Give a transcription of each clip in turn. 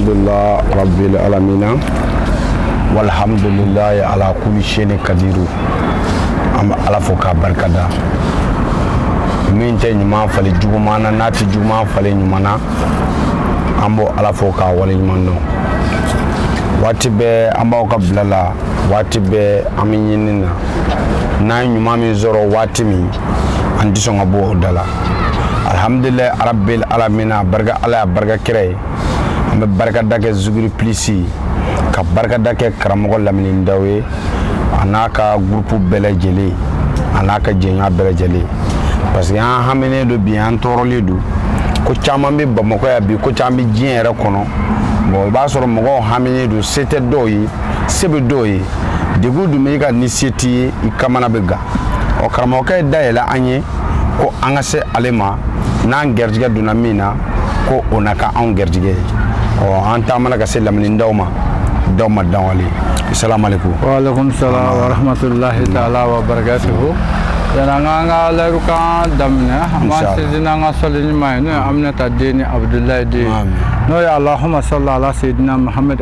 alhamdulillah rabbil alamina walhamdulillahi ala kulli shay'in kadiru an bɛ ala fo k'a barikada min tɛ ɲuman falen juguman na n'a tɛ juguman falen ɲuman na an b'o ala fo k'a waleɲumandɔn waati bɛɛ an b'aw ka bila la waati bɛɛ an bɛ ɲini na n'an ye ɲuman min sɔrɔ waati min an tɛ sɔn ka bɔ o da la alihamudulilayi arabil alamina barika ala ye barika kira ye an bɛ barikada kɛ zuguri pilisi ka barikada kɛ karamɔgɔ lamini daw ye a n'a ka gurupu bɛɛ lajɛlen a n'a ka jɛɲɔgɔn bɛɛ lajɛlen parce que an haminen don bi an tɔɔrɔlen don ko caman bɛ bamakɔ yan bi ko caman bɛ diɲɛ yɛrɛ kɔnɔ bon i b'a sɔrɔ mɔgɔw haminen don se tɛ dɔw ye se bɛ dɔw ye degun dun b'i kan ni se t'i ye i kamana bɛ gan ɔ karamɔgɔkɛ ye da yɛlɛ an ye ko an ka se ale ma n'an garijɛgɛ donna min na ko o na kɛ anw garijɛgɛ ye ɔ an taamana ka se lamini daw ma daw ma daw ale salamaleykum waaleykum salam warahmatulahi taala wa barakatuhu yan'an k'an ka layiru kan daminɛ an b'an sinsin n'an ka sɔli ɲuman ye n'o ye aminata den ni abudulayi den n'o ye alahuma sɔli ala seyidina muhamadu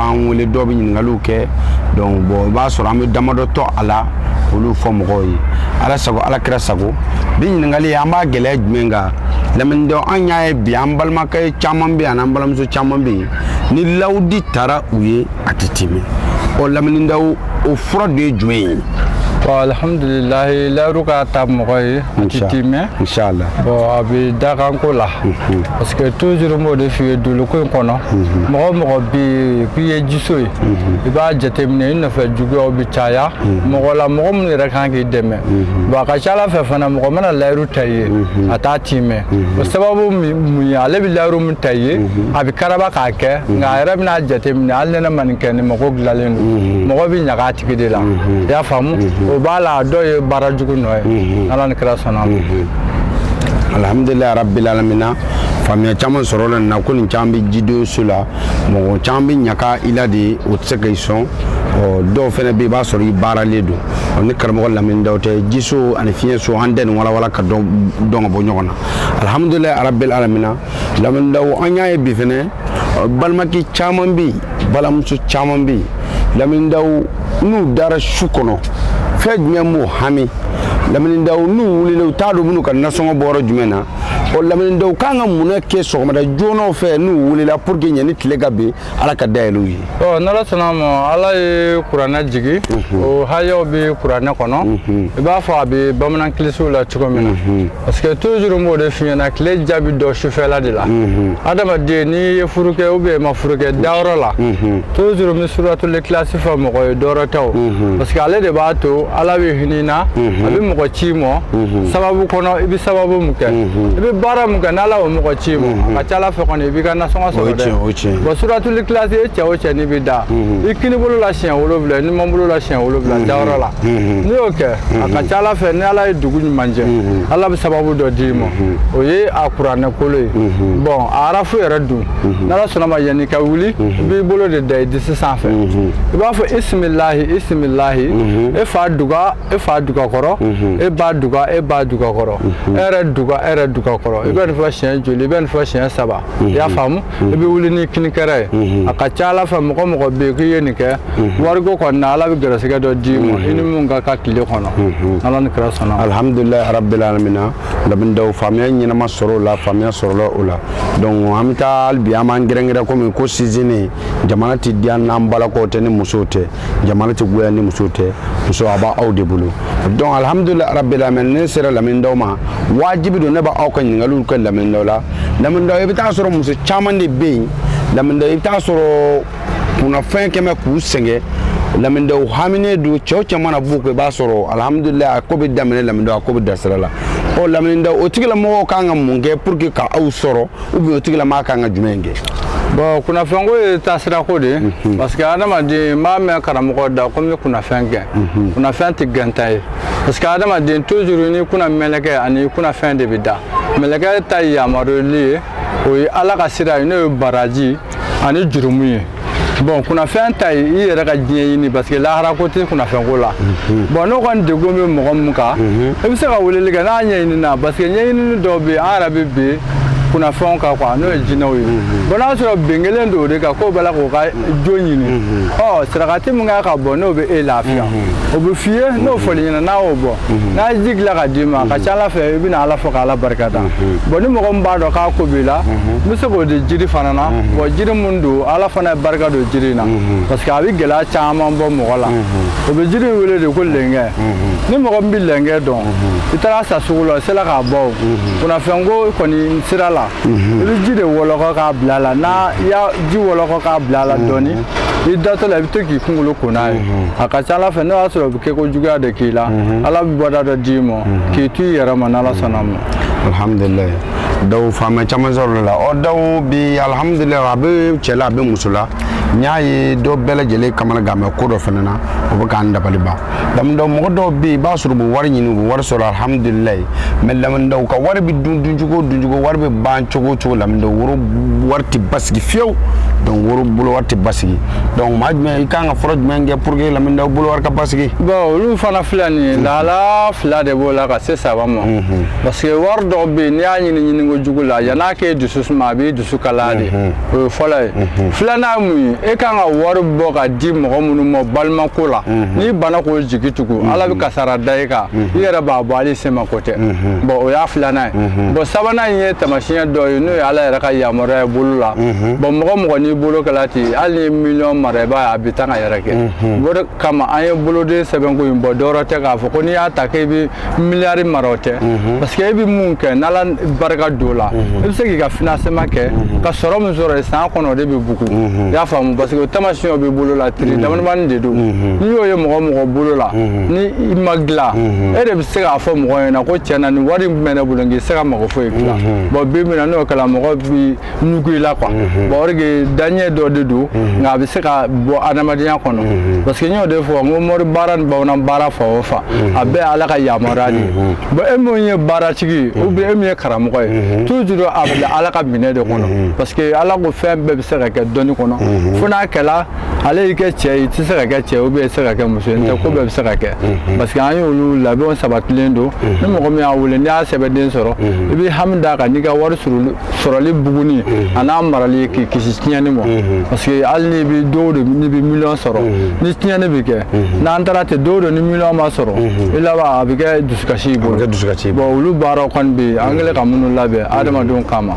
an wele dɔw bɛ ɲininkaliw kɛ donc bon i b'a sɔrɔ an bɛ damadɔ tɔ a la olu fɔ mɔgɔw ye ala sago ala kira sago bi ɲininkali an b'a gɛlɛya jumɛn kan lamini daw an y'a ye bi an balimakɛ caman bɛ yen an'an balimamuso caman bɛ yen ni layidu taara u ye a tɛ timɛ ɔ lamini daw o fura de ye jumɛn ye bon alhamdulilahi layiru ka ta mɔgɔ ye a tɛ timɛ inshallah bon a bɛ dakanko la parce que toujours n b'o de f'i ye dugukolo in kɔnɔ mɔgɔ o mɔgɔ bɛ yen k'i ye jiso ye i b'a jateminɛ i nɔfɛ juguyaw bɛ caya mɔgɔ la mɔgɔ minnu yɛrɛ kan k'i dɛmɛ bon a ka ca a la fɛ fana mɔgɔ mana layiru ta i ye a t'a timɛ o sababu mun ye ale bɛ layiru min ta i ye a bɛ karaba k'a kɛ nka a yɛrɛ bɛn'a jateminɛ hali ni ne ma nin kɛ nin mako dilanlen don mɔgɔ bɛ ɲaga a tigi de la i y'a faamu o b'a la a dɔw ye baara jugu nɔ ye ala ni kira sɔnna a ma alhamdulillah rabbil alamina faamuya caman sɔrɔla na ko nin caman bɛ jidon so la mɔgɔ caman bɛ ɲaka i la de u tɛ se ka i sɔn dɔw fana bɛ i b'a sɔrɔ i baaralen don ni karamɔgɔ lamini daw tɛ jiso ani fiɲɛ so an tɛ nin walawala ka dɔn ka bɔ ɲɔgɔn na alhamdulillah rabbil alamina lamini daw an y'a ye bi fana balimakɛ caman bɛ yen balimamuso caman bɛ yen lamini daw n'u dara su kɔnɔ fɛn jumɛn b'u hami lamindaw n'u wulila u t'a dɔn u bɛn'u ka nasɔngɔ bɔ yɔrɔ jumɛn na o lamindaw kan ka mun kɛ sɔgɔmada joona fɛ n'u wulila pour que yanni tile ka bin ala ka da yɛlɛ u ye ɔ n'ala sɔnna ma ala ye kuranɛ jigi mhm. o hayaw bɛ kuranɛ kɔnɔ mhm. i b'a fɔ a bɛ bamanan kilisiw la cogo min na mhm. parce que toujours n b'o de f'i ɲɛna tile diya bɛ dɔn sufɛla de la adamaden n'i ye furu kɛ ou bien i ma furu kɛ dayɔrɔ la toujours n bɛ suratul ikilasi fɔ mɔgɔ ye dɔwɛrɛ tɛ o parce que ale de b'a to ala bɛ hinɛ i na a bɛ mɔgɔ c'i ma sababu kɔnɔ i bɛ sababu mun kɛ i bɛ baara mun kɛ n'ala o mɔgɔ c'i ma a ka ca ala fɛ kɔni i b'i ka nasɔngɔ sɔrɔ dɛ bɔn suratul ikilasi e su o su n'i bɛ da i kinibolo la siɲɛ wolonwula i numanbolo la siɲɛ wolonwula dayɔrɔ la n'i y'o kɛ a ka ca ala fɛ ni ala ye dugu ɲuman jɛ ala bɛ sababu dɔ d'i ma o ye a kuranɛ kolo ye bɔn a arafu yɛrɛ dun n'ala sɔnna ma yanni i ka wuli i b'i bolo de da i disi sanfɛ i b'a fɔ isimilahi isimilahi e fa duga e fa duga kɔrɔ e ba duga e ba duga kɔrɔ e yɛrɛ duga e yɛrɛ duga kɔrɔ i bɛ nin fɔ siɲɛ joli i bɛ nin fɔ siɲɛ saba i y'a faamu i bɛ wuli ni kinikɛrɛ ye a ka ca ala fɛ mɔgɔ o mɔgɔ bɛ yen k'i ye nin kɛ wariko kɔni na ala bɛ gɛrɛsɛgɛ dɔ d'i ma i ni min ka kan tile kɔnɔ n'ala ni kira sɔnna alhamdulillah rabbil alamina lamindaw faamuya ɲɛnama sɔrɔ o la faamuya sɔrɔla o la dɔnku an bɛ taa bi an b'an gɛrɛnkɛrɛn kɔmi ko sisan nin jamana tɛ diya n'an balakaw tɛ ni musow tɛ jamana tɛ goya ni muso tɛ muso a b'aw de bolo donc alhamdulillah rabbil alamin ne sera lamindaw ma wajibi don ne b'aw ka ɲininkaliw kɛ lamindaw la lamindaw i bɛ taa sɔrɔ muso caman de bɛ yen lamindaw i bɛ taa sɔrɔ kunnafɛn kɛlen bɛ k'u sɛgɛn lamindaw haminen don cɛw caman na b'u kɔ i b'a sɔrɔ alhamdulillah a ko bɛ daminɛ lamindaw a ko bɛ da sira la ɔ lamindaw o tigilamɔgɔw kan ka mun kɛ pour que ka aw sɔrɔ ou bien o tigilamaa kan ka jumɛn kɛ bɔn kunnafɛnko ye taasirako de ye mhm. parce que adamaden n b'a mɛn karamɔgɔ da ko n bɛ kunnafɛn gɛn mhm. kunnafɛn tɛ gɛnta ye parce que adamaden toujours i ni kunna mɛlɛkɛ ani kunnafɛn de bɛ da mɛlɛkɛ ta ye yamaruyali ye o ye ala ka sira ye n'o ye baraji ani jurumu ye bɔn kunnafɛn ta ye i yɛrɛ ka diɲɛ ɲini parce que lahara ko tɛ kunnafɛnko la mhm. bɔn n'o kɔni degun bɛ mɔgɔ min kan mhm. i bɛ se ka weleli kɛ n'a ɲɛɲinina parce que ɲɛɲinini dɔw bɛ yen an yɛrɛ bɛ bin kunnafɛnw kan quoi n'o ye jinɛw ye mhm. bɔn n'a sɔrɔ bin kɛlen don o de kan k'o b'a la k'o ka jo ɲini ɔ sarakati min kan ka bɔ n'o bɛ e lafiya o bɛ f'i ye n'o fɔli ɲɛna n'a y'o bɔ mhm. n'a ye ji dilan ka d'i ma a ka ca ala fɛ i bɛna ala fɔ k'ala barika da mhm. bɔn ni mɔgɔ min b'a dɔn k'a ko b'i la mhm. n bɛ se k'o di jiri fana na bɔn jiri min don ala fana ye barika don jiri in na parce que a bɛ gɛlɛya caman bɔ mɔgɔ la o bɛ jiri in wele de ko lɛnkɛ ni mɔgɔ min bɛ lɛnkɛ dɔn i taara a san sugu la i sera k'a bɔ o kunnafɛnko kɔni sira la i bɛ ji de wɔlɔkɔ k'a bila a la n'a y'a ji wɔlɔkɔ k'a bila a la dɔɔnin i datɔ la i bɛ to k'i kunkolo ko n'a ye a ka ca ala fɛ n'o y'a sɔrɔ o bɛ kɛ ko juguya de k'i la ala bɛ bɔda dɔ d'i ma k'i to i yɛrɛ ma n'ala sɔnna ma alhamdulilayi daw faama caman sɔrɔla ɔ daw bi alhamdulilayi a bɛ cɛ la a bɛ muso la n y'a ye dɔ bɛɛ lajɛlen kamanagan mais ko dɔ fana na o bɛ k'an dabali ban lamɛndaw mɔgɔ dɔw bɛ yen i b'a sɔrɔ u bɛ wari ɲini u bɛ wari sɔrɔ alihamudulilayi mais lamɛndaw ka wari bɛ dun duncogo duncogo wari bɛ ban cogo cogo lamɛndaw bolo wari tɛ basigi fiyewu donc olu bolo wari tɛ basigi donc maa jumɛn i kan ka fura jumɛn kɛ pour que lamɛndaw bolo wari ka basigi. bon olu fana filɛ nin ye mhm. lahala fila de b'o la ka se saba ma mhm. parce que wari dɔw bɛ yen n'i y'a ɲini ɲini ko jugu la yan'a k'e dusu suma a b'i dusu kalaya de. Mhm. o ye fɔlɔ ye mhm. filanan ye mun ye e kan ka wari bɔ ka di mɔgɔ minnu ma balimako la mhm. n'i banna k'o jigi tugu mhm. ala bɛ kasara da e kan i yɛrɛ b'a bɔ hali sema ko tɛ bon o y'a filanan ye bon sabanan in ye taamasiyɛn dɔ ye n'o ye ala yɛrɛ ka yamaruya ye bolo la bon mɔgɔ mɔgɔ n'i bolo kɛla ten hali n'i ye miliyɔn mara i b'a ye a bɛ taa ka yɛrɛkɛ o de kama an ye boloden sɛbɛnko in bɔ dɔwɛrɛ tɛ k'a fɔ ko n'i y'a ta k'e bɛ miliyari mara o tɛ mhm. parce que e bɛ mun kɛ n'ala barika don o la mhm. e bɛ se k'i ka financement kɛ mhm. ka sɔrɔ min sɔrɔ san kɔnɔ o de bɛ bugu i y'a faamu parce que o taamasiyɛnw bɛ bolo la tiiri damadamani de don n'i y'o ye mɔgɔ mɔgɔ bolo la ni i ma dilan e de bɛ se k'a fɔ mɔgɔ ɲɛna ko tiɲɛ na nin wari min bɛ ne bolo n tɛ se ka mago foyi dilan bon bi min na n'o kɛra mɔgɔ bi ɲugun i la quoi mhm. bon o de kɛ daɲɛ dɔ de don mhm. nka a bɛ se ka bɔ adamadenya kɔnɔ mhm. parce que n y'o de fɔ n ko mori baara ni bamanan baara fan o fan a bɛɛ ala ka yamaruya de ye bon e min ye baaratigi ye ou bien e min ye karamɔgɔ ye toujours a bila ala ka minɛ de kɔnɔ parce que ala ko fɛn bɛɛ bɛ se ka kɛ dɔnni kɔnɔ fo n'a kɛla ale y'i kɛ cɛ ye i tɛ se ka kɛ cɛ ye ou bien i tɛ se ka kɛ muso ye n'o tɛ ko bɛɛ bɛ se ka kɛ parce que an y'olu labɛnw sabatilen don ni mɔgɔ min y'a wele n'i y'a sɛbɛnden sɔrɔ i bɛ hami d'a kan n'i ka wari sɔrɔli sɔrɔli buguni mhm. an'a marali k'i kisi tiɲɛni ma mhm. parce que hali n'i bɛ don o don n'i bɛ miliyɔn sɔrɔ mhm. ni tiɲɛni bɛ kɛ n'an taara ten don o don ni miliyɔn ma sɔrɔ i laban a bɛ kɛ dusukasi y'i bolo bon olu baaraw kɔni bɛ yen an kɛlen ka minnu labɛn adamadenw kama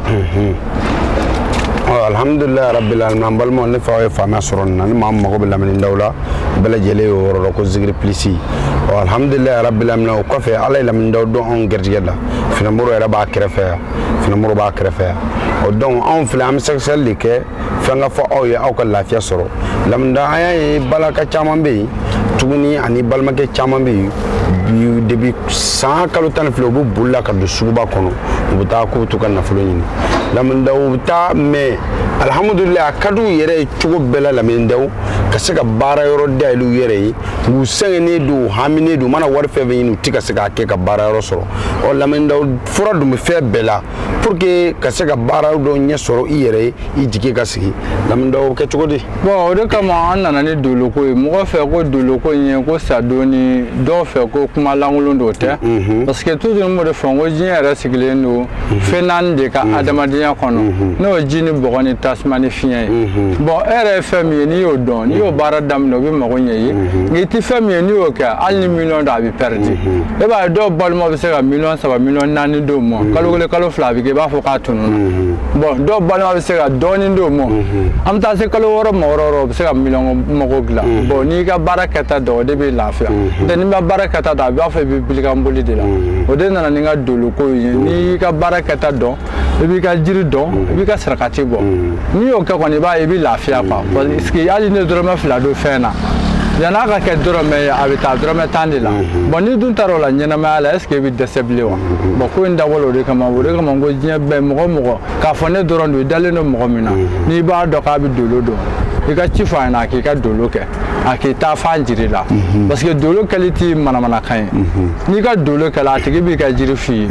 alhamdulilayi rabbil alamin an balimaw ne fa ye faamuya sɔrɔ nin na ni maa min mago bɛ lamɛnnidaw la bɛɛ lajɛlen y'o yɔrɔ dɔn ko zikiri pilisi alhamdulilayi rabbil alamin o kɔfɛ ala ye lamɛnnidaw don anw garijɛgɛ la finamoro yɛrɛ b'a kɛrɛfɛ yan finamoro b'a kɛrɛfɛ yan o donc anw filɛ an bɛ sɛgɛsɛgɛli de kɛ fɛn ka fɔ aw ye aw ka lafiya sɔrɔ lamɛndaw an y'a ye balaka caman bɛ yen tuguni ani balimakɛ caman bɛ yen depuis san kalo tan ni fila u bɛ boli la ka don suguba kɔnɔ u bɛ taa k'u to ka nafolo ɲini lamɛndaw u bɛ taa mais alihamudulila a ka di u yɛrɛ ye cogo bɛɛ la lamɛndaw ka se ka baara yɔrɔ dayɛlɛ u yɛrɛ ye u sɛgɛnnen don u haminen don u mana wari fɛn fɛn ɲini u ti ka se k'a kɛ ka baara yɔrɔ sɔrɔ ɔ lamɛndaw fura dun bɛ fɛn bɛɛ la pour que ka se ka baara dɔ ɲɛ sɔrɔ i yɛrɛ ye i jigi ka sigi lamɛnnidaw kɛ cogo di bon o de kama an nana ni doloko ye mɔgɔ fɛ ko doloko in ye ko sadon ni dɔw fɛ ko kuma lankolon dɔ tɛ mhm. parce que toujours n b'o de fɔ n ko diɲɛ yɛrɛ sigilen don mhm. fɛn naani de kan adamadenya mhm. kɔnɔ n'o ye ji ni bɔgɔ ni tasuma ni fiɲɛ ye bon e yɛrɛ ye fɛn min ye n'i y'o dɔn n'i y'o baara daminɛ o bɛ mago ɲɛ i ye nka i tɛ fɛn min ye n'i y'o kɛ hali ni miliyɔn don a bɛ pɛridi e b'a ye dɔw balima bɛ se ka miliyɔn saba miliyɔn naani d'o ma mm-hmm. kalo kelen kalo fila a bɛ kɛ i b'a fɔ k'a tununna mm-hmm. bon dɔw balima bɛ se ka dɔɔnin d'o ma mm-hmm. an bɛ taa se kalo wɔɔrɔ ma yɔrɔ yɔrɔ o bɛ se ka miliyɔn mago dilan bon n'i ka baara kɛta dɔn o de b'i lafiya n'o tɛ n'i ma baara kɛta dɔn i b'a fɔ i bɛ bilikanboli de la o de nana ni n ka doloko ye n'i y'i ka baara kɛta dɔn i b'i ka jiri dɔn i b'i ka sarakati bɔ n'i y'o kɛ kɔni i b'a ye i bɛ lafiya quoi parce que hali ni dɔrɔmɛ fila don fɛn na yann'a ka kɛ dɔrɔmɛ ye a bɛ taa dɔrɔmɛ tan de la bon n'i dun taara o la ɲɛnamaya la est-ce que i bɛ dɛsɛ bilen wa bon ko in dabɔla o de kama o de kama ko diɲɛ bɛɛ mɔgɔ mɔgɔ k'a fɔ ne dɔrɔn don i dalen don mɔgɔ min na n'i b'a dɔn k'a bɛ dolo dɔn i ka ci fɔ a ɲɛna a k'i ka dolo kɛ a k'i taafan jir'i la parce que dolo kɛli tɛ manamanakan ye n'i ka dolo kɛla a tigi b'i ka jiri f'i ye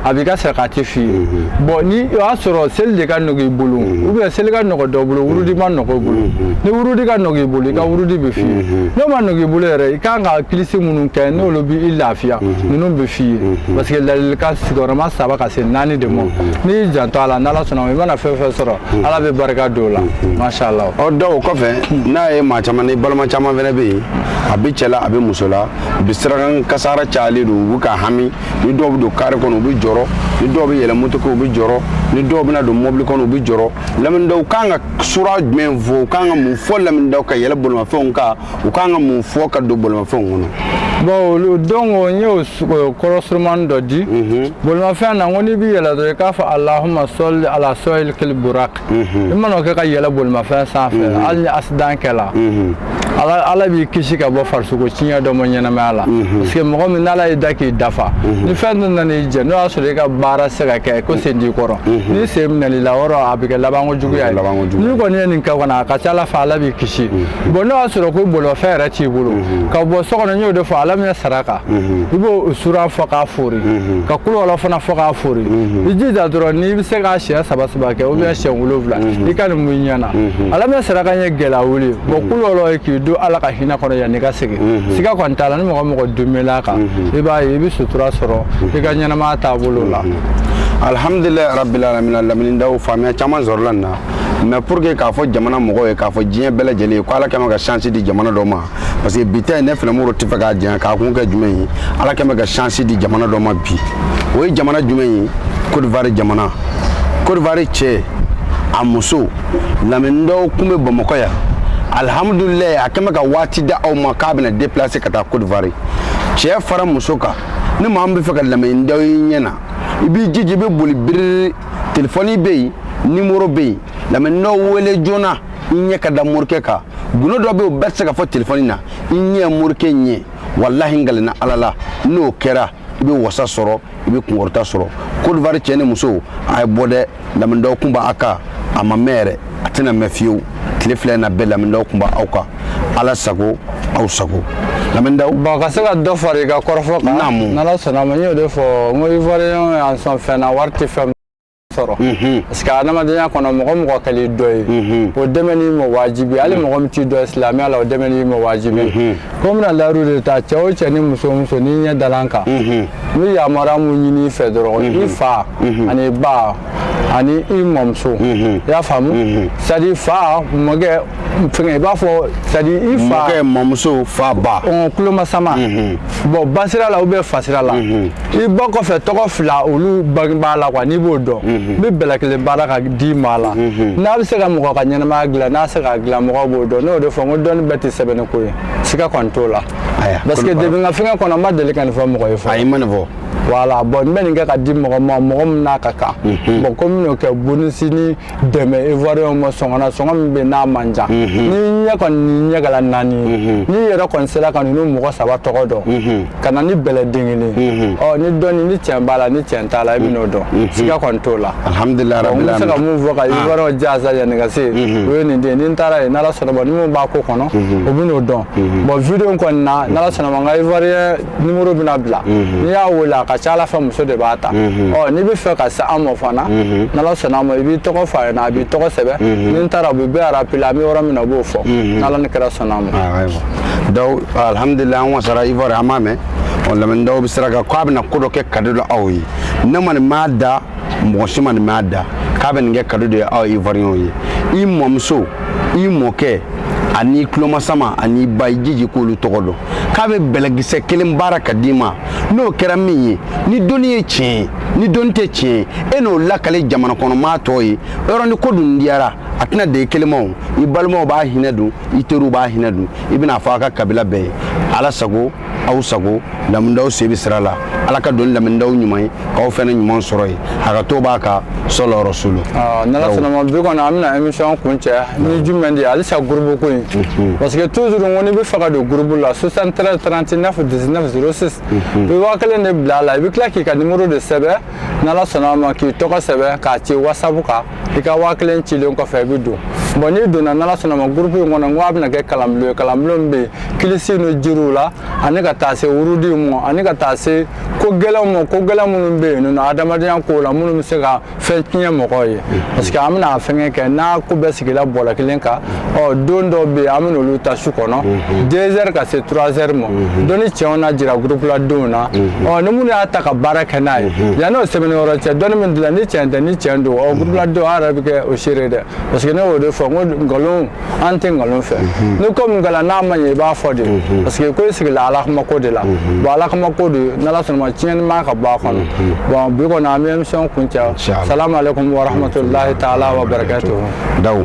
a b'i ka sarakati f'i ye bon ni o y'a sɔrɔ seli de ka nɔgɔ i bolo ou bien seli ka nɔgɔ dɔ bolo wurudi ma nɔgɔ i bolo ni wurudi ka nɔgɔ i bolo i ka wurudi bɛ f'i ye n'o ma nɔgɔ i bolo yɛrɛ i kan ka kilisi minnu kɛ n'olu bɛ i lafiya ninnu bɛ f'i ye parce que ladilikan sigiyɔrɔma saba ka se naani de ma n'i y'i janto a la n'ala sɔnna i mana fɛn fɛn sɔrɔ ala bɛ barika don o la masha allah ɔ o kɔfɛ n'a ye maa caman ni balima caman fana bɛ yen a bɛ cɛ la a bɛ muso la u bɛ sirakan kasara cayalen don u bɛ ka hami ni dɔw bɛ don kaare kɔnɔ u bɛ jɔrɔ ni dɔw bɛ yɛlɛ moto kan u bɛ jɔrɔ ni dɔw bɛna don mɔbili kɔnɔ u bɛ jɔrɔ lamɛnnidaw kan ka sura jumɛn fɔ u kan ka mun fɔ lamɛnnidaw ka yɛlɛ bolimafɛnw kan u kan ka mun fɔ ka don bolimafɛnw kɔnɔ. bon donc n y'o kɔrɔ surumani dɔ di bolimafɛn na n ko n'i bɛ yɛlɛ dɔrɔn i k'a fɔ alahuma sali ala sahibili burak i mana o kɛ ka yɛlɛ bolimafɛn sanfɛ hali ni accident kɛla ala b'i kisi ka bɔ farisogo tiɲɛ dɔ ma ɲɛnamaya la parce que mɔgɔ min n'ala y'i da k'i dafa ni fɛn dɔ nana i jɛ n'o y'a sɔrɔ i ka baara se ka kɛ ko sen t'i kɔrɔ ni sen minɛl'i la o yɔrɔ a bɛ kɛ labanko juguya ye n'i kɔni ye nin kɛ kɔni a ka ca ala fɛ ala b'i kisi bon n'o y'a sɔrɔ ko bolifɛn yɛrɛ t'i bolo mhm. ka bɔ so kɔnɔ n y'o de fɔ alam nasaraka mhm. i b'o sura fɔ k'a fori mhm. ka kuluwala fana fɔ k'a fori i jija dɔrɔn n'i bɛ se k'a siɲɛ saba saba kɛ ou bien siɲɛ wolonwula i ka nin mun i ɲɛna alam nasaraka ye gɛlɛya wuli bon kuluwala ye k'i don ala ka hinɛ kɔnɔ yanni i ka segin siga kɔni t'a la ni mɔgɔ mɔgɔ dumɛl'a kan i b'a ye i bɛ sutura sɔrɔ i ka ɲɛnamaya taabolo la alihamdulilayi rabil alamina lamɛnnidaw faamuya caman sɔrɔla nin na mais pour que k'a fɔ jamana mɔgɔw ye k'a fɔ diɲɛ bɛɛ lajɛlen ye ko ala kɛn bɛ ka chance di jamana dɔ ma parce que bi ta in ne fɛnɛ moro tɛ fɛ k'a janya k'a kun kɛ jumɛn ye ala kɛn bɛ ka chance di jamana dɔ ma bi o ye jamana jumɛn ye cote d'ivoire jamana cote d'ivoire cɛ a muso lamini daw kun bɛ bamakɔ yan alihamudulilayi a kɛn bɛ ka waati da aw ma k'a bɛna déplacer ka taa cote d'ivoire cɛ fara muso kan ni maa min bɛ fɛ ka lamini daw ye ɲɛ na i b'i jija i bɛ boli biriri telefɔni bɛ yen nimoro bɛ yen lamini daw wele joona i ɲɛ ka da morikɛ kan gundo dɔ bɛ yen o bɛɛ tɛ se ka fɔ telefɔni na i ɲɛ morikɛ ɲɛ walahi n kalina ala la n'o kɛra i bɛ wasa sɔrɔ i bɛ kunkɔrɔta sɔrɔ kodiwari cɛ ni muso a ye bɔ dɛ lamini daw kun b'a kan a ma mɛn yɛrɛ a tɛna mɛn fiyewu tile fila na bɛɛ lamini daw kun b'aw kan ala sago aw sago lamini daw bon ka se ka dɔ fara i ka kɔrɔfɔ kan naamu n'ala sɔnna ma n y'o de fɔ n ko ivoirien y'an sɔn fɛn na wari tɛ fɛn sɔrɔ mhm. parce que adamadenya kɔnɔ mɔgɔ mɔgɔ kɛl'i dɔn ye mhm. o dɛmɛni ma wajibi hali mhm. mɔgɔ min t'i dɔn silamɛya la o dɛmɛni ma wajibi ko n bɛna layiru de ta cɛ o cɛ ni muso muso n'i ɲɛ dala n kan n bɛ yamaruya mun ɲini i fɛ dɔrɔn i fa ani ba ani i mɔmuso i y'a faamu c'est à dire fa mɔkɛ fɛngɛ i b'a fɔ c'est à dire i fa mɔkɛ mɔmuso fa ba ɔn kulomasama bɔn basira la ou bien fasira la i ba kɔfɛ tɔgɔ fila olu bangebaa la quoi n'i b'o dɔn n bɛ bɛlɛ kelen baara ka d'i ma la n'a bɛ se ka mɔgɔ ka ɲɛnamaya dilan n'a se ka dilan mɔgɔw b'o dɔn n'o de fɔ n ko dɔnni bɛɛ tɛ sɛbɛnni ko ye siga kɔni t'o la parce que depuis n ka fɛngɛ kɔnɔ n ma deli ka nin fɔ mɔgɔ ye fɔlɔ ayi ma nin fɔ voilà bɔn n bɛ nin kɛ ka di mɔgɔ ma mɔgɔ min n'a ka kan mhm. bɔn ko n bɛn'o kɛ bonus ni dɛmɛ ivoiriyɛnw ma sɔngɔ na sɔngɔ min bɛ n'a man ca mhm. ni ɲɛ kɔni ni ɲɛ kɛra naani ye mhm. n'i yɛrɛ kɔni sera ka ninnu mɔgɔ saba tɔgɔ dɔn ka na ni bɛlɛ den kelen ɔ ni dɔnni ni tiɲɛ b'a la ni tiɲɛ t'a la i bɛn'o dɔn siga kɔni t'o la alihamudulila rabi n bɛ se ka mun fɔ ka ah. ivoiriyɛnw jansa yanni ka se yen o ye nin de ye ni n taara yen n'ala sɔnna ma ni mun b'a ko kɔnɔ o bɛn'o dɔn bɔn video kɔni na n'ala sɔnna ma n ka ivoiriyɛn numéro bɛna bila n'i y'a wele a ka ca a la fɛ muso de b'a ta ɔ n'i bɛ fɛ ka se an ma fana n'ala sɔnna a ma i b'i tɔgɔ f'a ɲɛ na a b'i tɔgɔ sɛbɛn ni n taara u bɛ bɛɛ rappeler an bɛ yɔrɔ min na u b'o fɔ n'ala ni kira sɔnna a ma donc alhamdulilayi an wasara ivoire an m'a mɛn ɔ lamini daw bɛ sira kan k'a bɛna ko dɔ kɛ cadeau la aw ye ne ma nin mɛn a da mɔgɔ si ma nin mɛn a da k'a bɛ nin kɛ cadeau de ye aw ivoiriyɛnw ye i mɔmuso i mɔkɛ ani tulomasama ani ba i jija k'olu tɔgɔ dɔn k'a bɛ bɛlɛkisɛ kelen baara ka d'i ma n'o kɛra min ye ni dɔnni ye tiɲɛ ye ni dɔnni tɛ tiɲɛ ye e n'o lakali jamana kɔnɔmaa tɔ ye yɔrɔ ni ko dun diyara a tɛna dan i kelen ma o i balimaw b'a hinɛ dun i teriw b'a hinɛ dun i bɛn'a fɔ a ka kabila bɛɛ ye ala sago aw sago lamini daw sen bɛ sira la ala ka doni lamɛndaw ɲuman ye k'aw fana ɲuman sɔrɔ ye a ka to b'a ka sɔlɔ rasulu n'ala sɔnna ma bi kɔni an bɛna émission kuncɛ ni jumɛn de ye halisa groupe ko in parce que toujours ko n'i bɛ fɛ ka don groupe la 73 39 19 06 i bɛ waa kelen de bila a la i bɛ tila k'i ka numéro de sɛbɛn n'ala sɔnna ma k'i tɔgɔ sɛbɛn k'a ci whatsapp kan i ka waa kelen cilen kɔfɛ i bɛ don bon n'i donna n'ala sɔnna ma groupe in kɔnɔ n ko a bɛna kɛ kalanbulon ye kalanbulon min bɛ yen kilisi ni jiriw la ani ka taa se wurudiw ma ani ka taa se ko gɛlɛnw ma ko gɛlɛn minnu bɛ yen nɔ adamadenya ko la minnu bɛ se ka fɛn tiɲɛ mɔgɔw ye parce que an bɛna fɛngɛ kɛ n'a ko bɛɛ sigila bɔlɔ kelen kan ɔ don dɔw bɛ yen an bɛna olu ta su kɔnɔ deux heures ka se trois heures ma dɔnni cɛw na jira groupe la denw na ɔ ni minnu y'a ta ka baara kɛ n'a ye yanni o sɛbɛnni yɔrɔ cɛ dɔnni min dilen ni tiɲɛ tɛ ni tiɲɛ don ɔ groupe la denw an yɛrɛ bɛ kɛ o seere dɛ parce que ne y'o de fɔ n ko nkalon an tɛ nkalon fɛ ni ko min kɛra n'a ma ɲɛ i b'a fɔ de parce que ko i sigila ala kama ko de la bon ala kama ko de n'ala sɔnna ma tiɲɛni ma ka bɔ a kɔnɔ bon bi kɔni an bɛ émission kuncɛ salamu aleykum warahmatulahi taala wa barakatuhu dawu